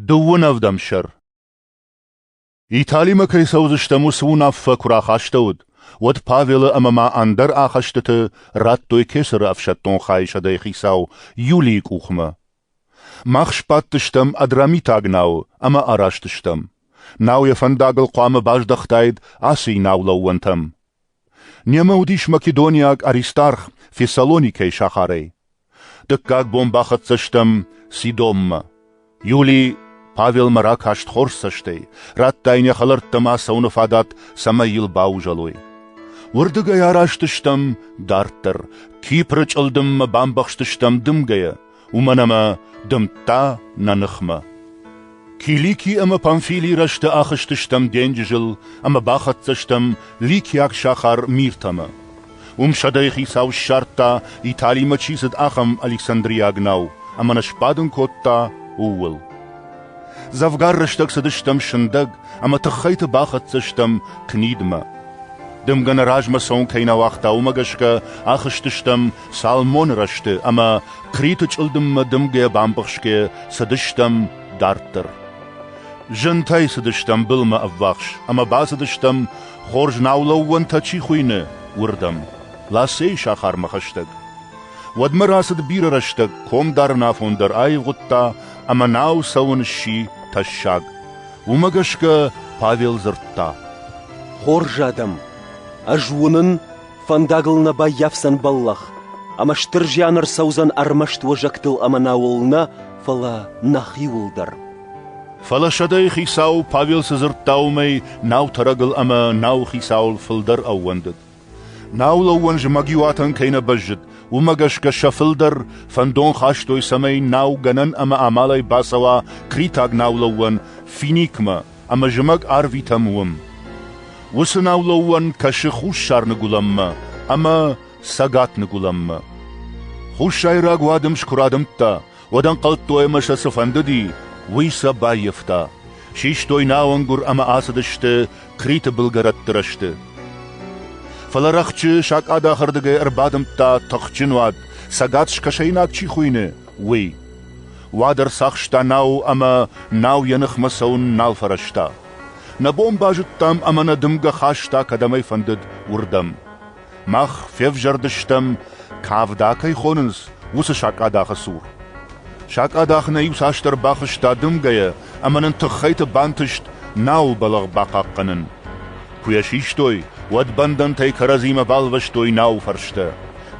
Дыууынӕвдӕм сӕр Италимӕ кӕй цӕудзыстӕм, уыцы уынаффӕ куы рахастӕуыд, уӕд Павелы ӕмӕ ма ӕндӕр ахӕстыты радтой кесӕры ӕфсӕддон хайысӕдӕй хицау Юлийы къухмӕ. Мах сбадтыстӕм Адрамитаг науы ӕмӕ араст стӕм. Нау йӕ фӕндагыл хъуамӕ баздӕхтаид Асийы наулӕууӕнтӕм. Немӕ уыдис македониаг Аристарх Фессалоникӕйы сахарӕй. Дыккаг бон бахӕццӕ стӕм Сидоммӕ. Юлий Павелмӕ ракаст хорз цӕстӕй, радта йын йӕ хӕлӕрттӕ ӕмӕ цӕуыны фадат, цӕмӕй йыл баузӕлой. Уырдыгӕй араст стӕм дарддӕр, Кипры чъылдыммӕ бамбӕхстыстӕм дымгӕйӕ, уымӕн ӕмӕ дымдта нӕ ныхмӕ. Килики ӕмӕ Памфилийы рӕзты ахызтыстӕм денджызыл ӕмӕ бахӕццӕ стӕм ликиаг сахар Миртӕмӕ. Уым сӕдӕйы хицау ссардта, Италимӕ чи цыд, ахӕм Александриаг нау, ӕмӕ нӕ сбадын кодта ууыл. Дзӕвгар рӕстӕг цыдыстӕм сындӕг, ӕмӕ тыххӕйты бахӕццӕ стӕм Книдмӕ. Дымгӕ нӕ размӕ цӕуын кӕй нӕ уагъта, уымӕ гӕсгӕ ахызтыстӕм Псалмоны рӕзты ӕмӕ Хъриты чъылдыммӕ дымгӕ-бамбӕхсгӕ цыдыстӕм дарддӕр. Зынтӕй цыдыстӕм былмӕ ӕввахс ӕмӕ бацыдыстӕм, хорз наулӕууӕнтӕ чи хуыйны, уырдӕм, Лассейы сахармӕ хӕстӕг. Уӕдмӕ рацыд бирӕ рӕстӕг, комдарын афон дӕр аивгъуыдта ӕмӕ нау цӕуын сси тӕссаг. Уымӕ гӕсгӕ Павел дзырдта: «Хорз адӕм, ӕз уынын, Фӕндагыл нӕ баййафдзӕн бӕллӕх, ӕмӕ стыр зиан ӕрцӕудзӕн ӕрмӕст уӕзӕгтыл ӕмӕ науыл нӕ, фӕлӕ нӕхиуыл дӕр. Фӕлӕ сӕдӕйы хицау Павел цы дзырдта, уымӕй нау тӕрӕгыл ӕмӕ науы хицауыл фылдӕр ӕууӕндыд. Наулӕууӕн зымӕгиуатӕн кӕй нӕ бӕззыд, уымӕ гӕсгӕ сӕ фылдӕр фӕндон хастой, цӕмӕй нау гӕнӕн ӕмӕ амалӕй бацӕуа критаг наулӕууӕн Финикмӕ, ӕмӕ зымӕг арвитӕм уым. Уыцы наулӕууӕн кӕсы хуссар-ныгуылӕнмӕ ӕмӕ цӕгат-ныгуылӕнмӕ. Хуссайраг уадым куы радымдта, уӕд ӕнхъӕлдтой ӕмӕ сӕ цы фӕндыди, уый сӕ баййӕфта. Систой науӕнгуыр ӕмӕ ацыдысты Криты былгӕрӕтты рӕзты. Фӕлӕ рӕхджы сакъадахырдыгӕй ӕрбадымдта тыхджын уад, цӕгат-скӕсӕйнаг чи хуыйны, уый. Уӕд ӕрцахста нау ӕмӕ нау йӕ ныхмӕ цӕуын нал фӕрӕзта. Нӕ бон базыдтам ӕмӕ нӕ дымгӕ хаста кӕдӕмӕй фӕндыд, уырдӕм. Мах февзӕрдыстӕм, кӕвда кӕй хонынц, уыцы сакъадахы цур. Сакъадах нӕ иуцасдӕр бахызта дымгӕйӕ ӕмӕ нын тыххӕйты бантыст науыл бӕлӕгъ бахъахъхъӕнын. Куы йӕ систой, уӕд бӕндӕнтӕй кӕрӕдзимӕ балвӕстой науы фӕрстӕ.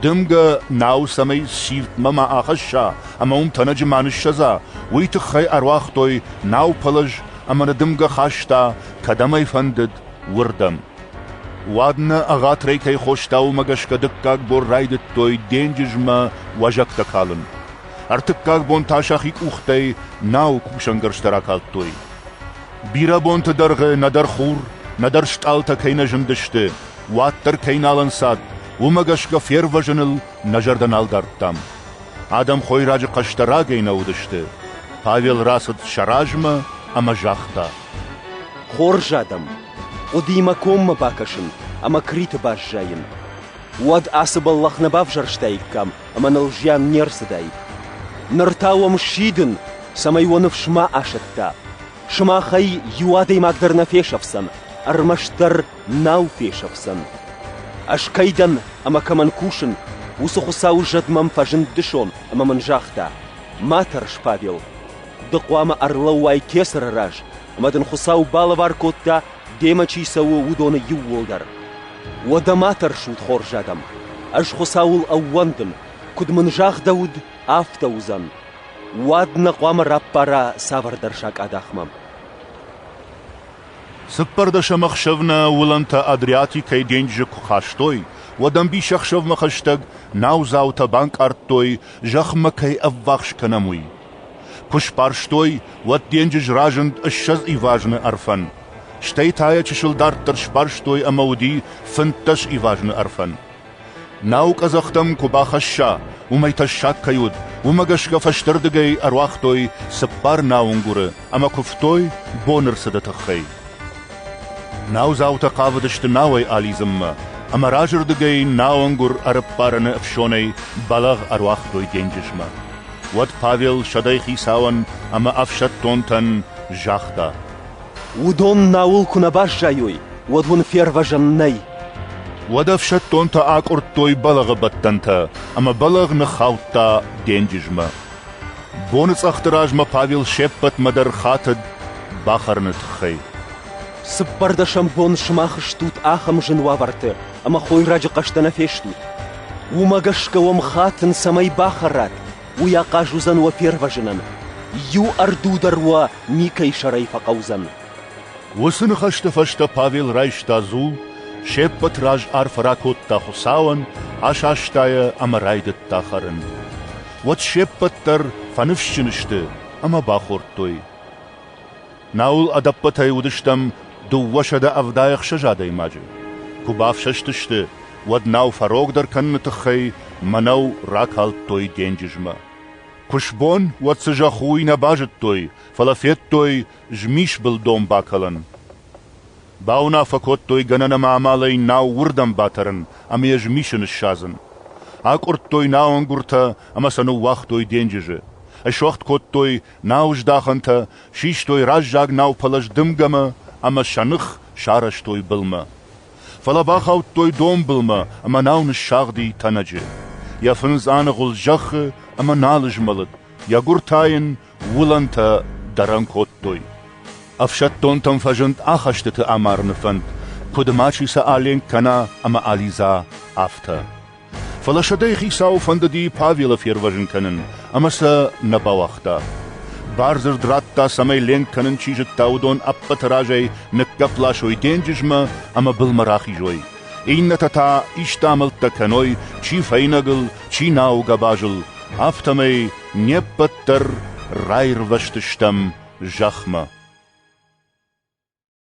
Дымгӕ нау цӕмӕй сирдтмӕ ма ахӕсса ӕмӕ уым тӕнӕджы ма ныссӕдза, уый тыххӕй ӕруагътой наупӕлӕз ӕмӕ нӕ дымгӕ хаста, кӕдӕм ӕй фӕндыд, уырдӕм. Уӕд нӕ ӕгъатырӕй кӕй хоста, уымӕ гӕсгӕ дыккаг бон райдыдтой денджызмӕ уӕзӕгтӕ калын. Ӕртыккаг бон та сӕхи къухтӕй науы кусӕнгӕрзтӕ ракалдтой. Бирӕ бонты дӕргъы нӕдӕр хур, нӕдӕр стъалытӕ кӕй нӕ зындысты, уӕддӕр кӕй нал ӕнцад, уымӕ гӕсгӕ фервӕзыныл нӕ зӕрдӕ нал дардтам. Адӕм хойраджы хъӕстӕ рагӕй нӕ уыдысты. Павел рацыд сӕ размӕ ӕмӕ загъта: «Хорз адӕм, хъуыдыимӕ коммӕ бакӕсын ӕмӕ Криты баззайын. Уӕд ацы бӕллӕх нӕ бавзӕрстаиккам ӕмӕ ныл зиан не рцыдаид. Ныр та уӕм сидын, цӕмӕй уӕ ныфс ма асӕтта. Сымахӕй иу адӕймаг дӕр нӕ фесӕфдзӕн, ӕрмӕстдӕр нау фесӕфдзӕн. Ӕз кӕй дӕн ӕмӕ кӕмӕн кусын, уыцы Хуыцауы зӕд мӕм фӕзынд дысон ӕмӕ мын загъта: «Ма тӕрс, Павел, ды хъуамӕ ӕрлӕууай кӕцыры раз ӕмӕ дын Хуыцау балӕвар кодта, демӕ чи цӕуы, уыдоны иууылдӕр. Уӕдӕ ма тӕрсут, хорз адӕм, ӕз Хуыцауыл ӕууӕндын, куыд мын загъдӕуыд, афтӕ уыдзӕн. Уӕд нӕ хъуамӕ раппара цавӕрдӕр сакъадахмӕ. Цыппӕрдӕсӕм ӕхсӕвмӕ уылӕнтӕ Адриатикӕйы денджызы куы хастой, уӕд ӕмбисӕхсӕвмӕ хӕстӕг наудзаутӕ банкъардтой, зӕхмӕ кӕй ӕввахс кӕнӕм, уый. Куы сбарстой, уӕд денджыз разынд ссӕдз ивазны ӕрфӕн, стӕй та йӕ чысыл дарддӕр сбарстой ӕмӕ уыди фынддӕс ивазны ӕрфӕн. Нау къӕдзӕхтӕм куы бахӕсса, уымӕй тӕссаг кӕй уыд, уымӕ гӕсгӕ фӕстӕрдыгӕй ӕруагътой цыппар науынгуыры ӕмӕ куывтой боны рцыды тыххӕй. Наудзаутӕ хъавыдысты науӕй алидзынмӕ, ӕмӕ разырдыгӕй науынгуыр ӕрыппарыны ӕфсонӕй бӕлӕгъ ӕруагътой денджызмӕ. уӕд Павел сӕдӕй хицауӕн ӕмӕ ӕфсӕддонтӕн загъта: «Уыдон науыл куы нӕ баззайой, уӕд уын фервӕзӕн нӕй». Уӕд ӕфсӕддонтӕ акъуырдтой бӕлӕгъы бӕттӕнтӕ ӕмӕ бӕлӕгъ ныххаудта денджызмӕ. Боныцъӕхты размӕ Павел се ппӕтмӕ дӕр хатыд бахӕрыны тыххӕй. «Цыппӕрдӕсӕм бон сымах стут ахӕм зын уавӕрты, ӕма хойраджы хъӕстӕ нӕ фестут. Уымӕ гӕсгӕ уӕм хатын, цӕмӕй бахӕрат, уый ахъаз уыдзӕн уӕ фервӕзынӕн. Иу ӕрду дӕр уӕ никӕй сӕрӕй фӕхъӕудзӕн. Уыцы ныхӕсты фӕстӕ Павел райста дзул, се ппӕт раз арфӕ ракодта Хуыцауӕн, асаста йӕ ӕмӕ райдыдта хӕрын. Уӕд се ппӕт дӕр фӕныфсджын сты ӕмӕ бахордтой. Науыл ӕдӕппӕтӕй уыдыстӕм дыууӕсӕдӕ ӕвдаӕхсӕз адӕймаджы. Куы бафсӕстысты, уӕд нау фӕрогдӕр кӕныны тыххӕй мӕнӕу ракалдтой денджызмӕ. Куы сбон, уӕд цы зӕхх уый нӕ базыдтой, фӕлӕ федтой змисбыл донбакалӕн. Бауынаффӕ кодтой гӕнӕн ӕмӕ амалӕй нау уырдӕм батӕрын ӕмӕ йӕ змисы ныссадзын. Акъуырдтой науӕнгуыртӕ ӕмӕ сӕ ныууагътой денджызы. Ысуӕгъд кодтой Нау здахӕнтӕ систой раззаг наупӕлӕз дымгӕмӕ ӕмӕ сӕ ных сарӕзтой былмӕ. Фӕлӕ бахаудтой донбылмӕ ӕмӕ нау ныссагъди тӕнӕджы. Йӕ фындз аныгъуылд зӕххы ӕмӕ нал змӕлыд, йӕ гуыр та йын уылӕнтӕ дӕрӕн кодтой. Ӕфсӕддонтӕм фӕзынд ахӕстыты амарыны фӕнд, куыд мачи сӕ аленк кӕна ӕмӕ алидза, афтӕ. Фӕлӕ сӕдӕйы хицауы фӕндыди Павелы фервӕзын кӕнын, ӕмӕ сӕ нӕ бауагъта. Бардзырд радта, цӕмӕй ленк кӕнын чи зыдта, уыдон ӕппӕты разӕй ныккӕпп ласой денджызмӕ ӕмӕ былмӕ рахизой. Иннӕтӕ та исты амӕлттӕ кӕной, чи фӕйнӕгыл, чи науы гӕбазыл, афтӕмӕй не ппӕт дӕр раирвӕзтыстӕм зӕхмӕ.